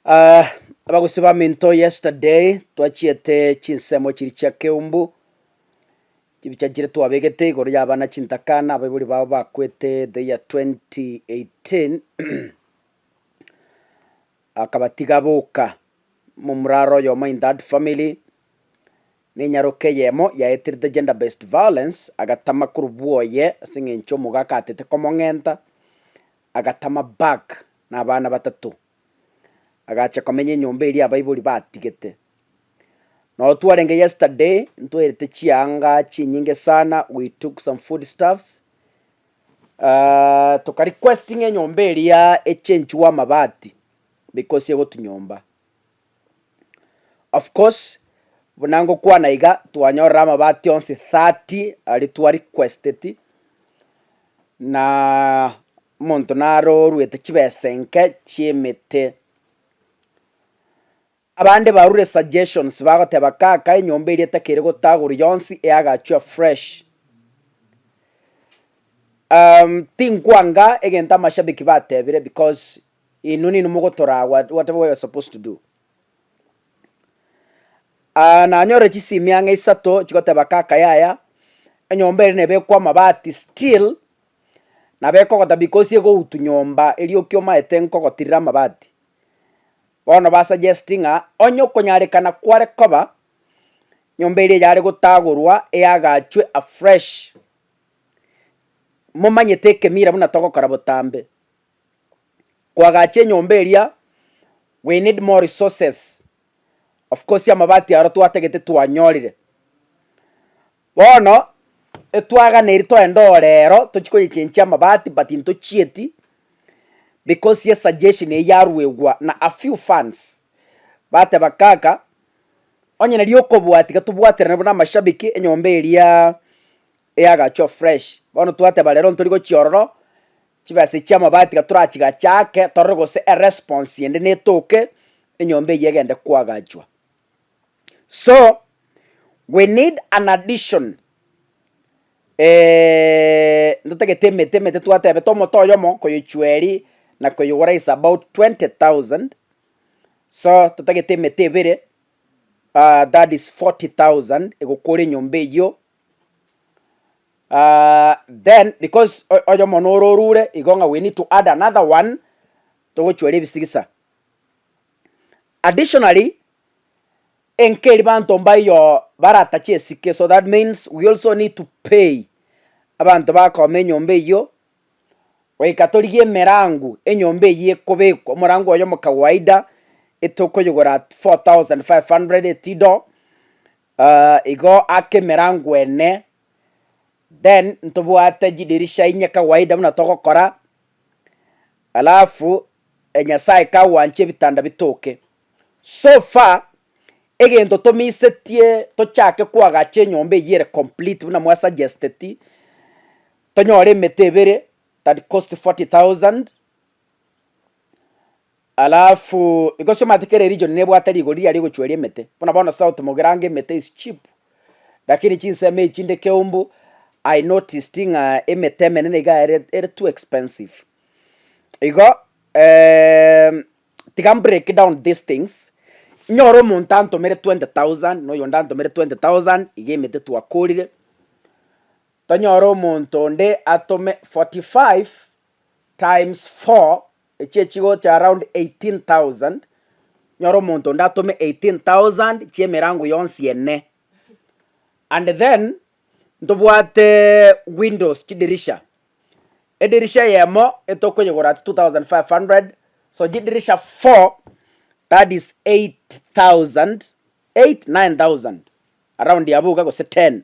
Ah, abagusi ba minto yesterday twachiete chinsemo chiri chia keumbu chibichachire twabegete igoro ya abana chintakana abaibori bao bakwete the year 2018 akabatiga boka momuraro oyomo in that family nenyaroka eyemo yaeterete gender based violence agatama korobua oye ase eng'encho omogaka atete komong'enta agatama back na abana batato agacha komenya enyomba eria abaibori batigete. Nao twarenge yesterday ntwaerete chianga chinyinge sana we took some food stuffs uh, toka requesting enyomba eria echenchiwe amabati because egotunyomba of course buna ngokwana iga twanyorire amabati onsi 30 aria twa requesteti na Omonto narorwete chibesa enke chi'emete. Abande barure suggestions bagoteba kaka enyomba eria takere gotaguru yonsi eagachwa fresh. Um tinkwanga egento amashabiki batebire because inwe ninwe mogotoraa what whatever we are supposed to do. Ah nanyorire chisimi ang'e isato chigoteba kaka yaya enyomba ere nebekwe amabati still Nabo ekogota because egoutu nyomba eria okiomaete nkogotirire amabati. Bono ba suggesti ng'a onye okonyarekana kware koba, nyomba eria yare gotagorwa eagachwe afresh. Momanyete ekemira buna togokora botambe, koagacha enyomba eria we need more resources, of course amabati aro twatagete twanyorire. Bono etwaganeri toende oo rero tochie koyechenchia amabati but ntochieti because ye suggestion eye yaruegwa na a few fans bateba kaka onye nari okobua tiga tobwaterane buna amashabiki enyomba eria ya gacho fresh bono twateba rero ntori gochia ororo chibesa chia amabati tiga torachigachaake torore gose eresponse ende netoke enyomba eyio egende koagachwa. So we need an addition ntotagete emete emete twatebete omote oyomo koyochua eri na koyogora is about 20,000 so totagete emete ebere that is 40,000 egokora enyomba eyio then because oyomo noro orure igo ng'a we need to add another one togochua ere ebisigisa. Additionally, enkeri banto mbayo baratache esike so that means we also need to pay abanto bakooma enyomba eyio goika torigie emerango enyomba eyio ekobekwa omorango oye omokawaida etokoyigora at 4500 etido aah igo ake emerango ene then ntobwate chidirisha inye kawaida buna togokora. Alafu enyasae kagwanche ebitanda bitoke. So far egento tomisetie tochake koagacha enyomba eyio ere complete buna mwa suggesteti, tonyore emete ebere that cost forty thousand, alafu because omanyete kera eregion nebwate rigori riaria rigochueria emete, buna bono south mogirange emete is cheap. Lakini chinsemo echi chinde keumbu, I noticed ng'a emete emenene iga ere ere too expensive. Igo ehm, tiga mbreak down these things, nyore omonto antomere twenty thousand na oyonde antomere twenty thousand iga emete twakorire, tonyore omonto onde atome forty five times four Echie chigocha around 18,000, nyore omonto onde atome 18,000 chi'emerango yonsi ene. And then ntobwate windows chidirisha, edirisha eyemo etokoyegora at 2,500, so chidirisha four that is 8,000, eight, 9,000 around abwo iga gose ten.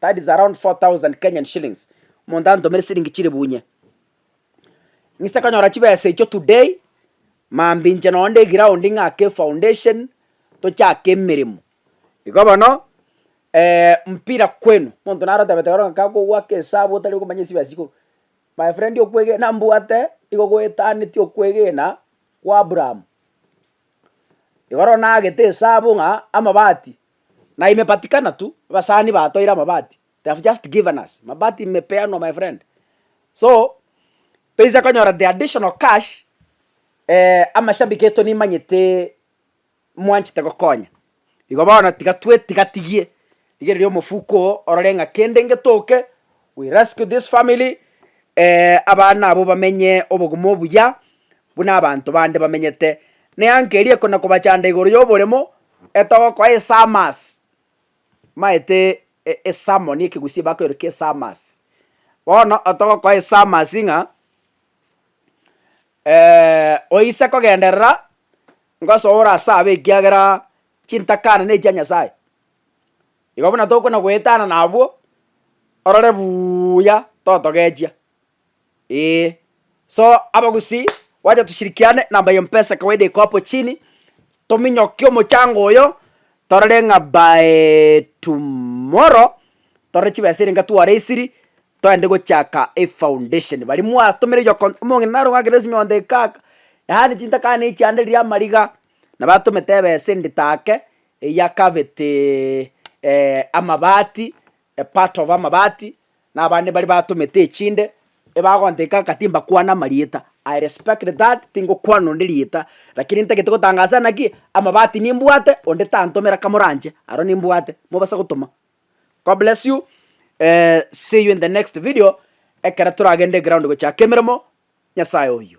that is around 4000 Kenyan shillings, omonto antomere siringi chire bunye, ng'ise konyora chibesa echio today, mambia inche nonya na eground ng'ake efoundation, tochake emeremo. Igo bono mpira kwenu, omonto naro otebete bono ng'ake akogoaka esabu otari okomanya chibesa chikorwa, my friend okwegena mbwate nigo gwetaneti okwegena kwa Abraham, igoro nagete esabu ng'a amabati Na imepatikana tu, abasani batoire amabati, they have just given us, mabati imepeanwa my friend. So, toise konyora the additional cash, amashabiki aito nimanyete mwanchete gokonya, igo bono tiga twe tigatigie, rigereria omofuko oo orore ng'a kende ngetoke We rescue this family eh, abana abo bamenye obogima obuya buna abanto bande bamenyete. Neanke rieko na kobachanda igoro y'oboremo etogokoa esamas maete e- esalmon ekegusii bakoireka esamas bono otogokoa esamas ng'a eh, oise kogenderera ngosoe ore ase abe ekiagera chintakana nechi chia Nyasaye. Igo buna tokona goetana nabwo, orore buuya totogechia, ee. So abagusii wacha tushirikiane na ambaye mpesa kawaida iko hapo chini, tominyokie omochango oyo, torore ng'a by tomorrow torore chibesa erenge twareisiri toende gochaka efoundation. Baria mwatomire yoko omong'ina narogakire esimi onde kaka, yaani chintakana echiande riria amariga, nabo atomete ebesa ende take. eyia kabete amabati, a part of amabati, na abande baria batomete echinde, ebagonteka ng'a timbakwane amarieta, I respect that, tingokwana onde rieta, lakini ntagete gotangasa ase naki, amabati nimbwate, onde tantomera kamoranche, aro nimbwate, mobasa gotoma. God bless you, see you in the next video, ekero toragende ground gochaka emeremo, Nyasaye oyio.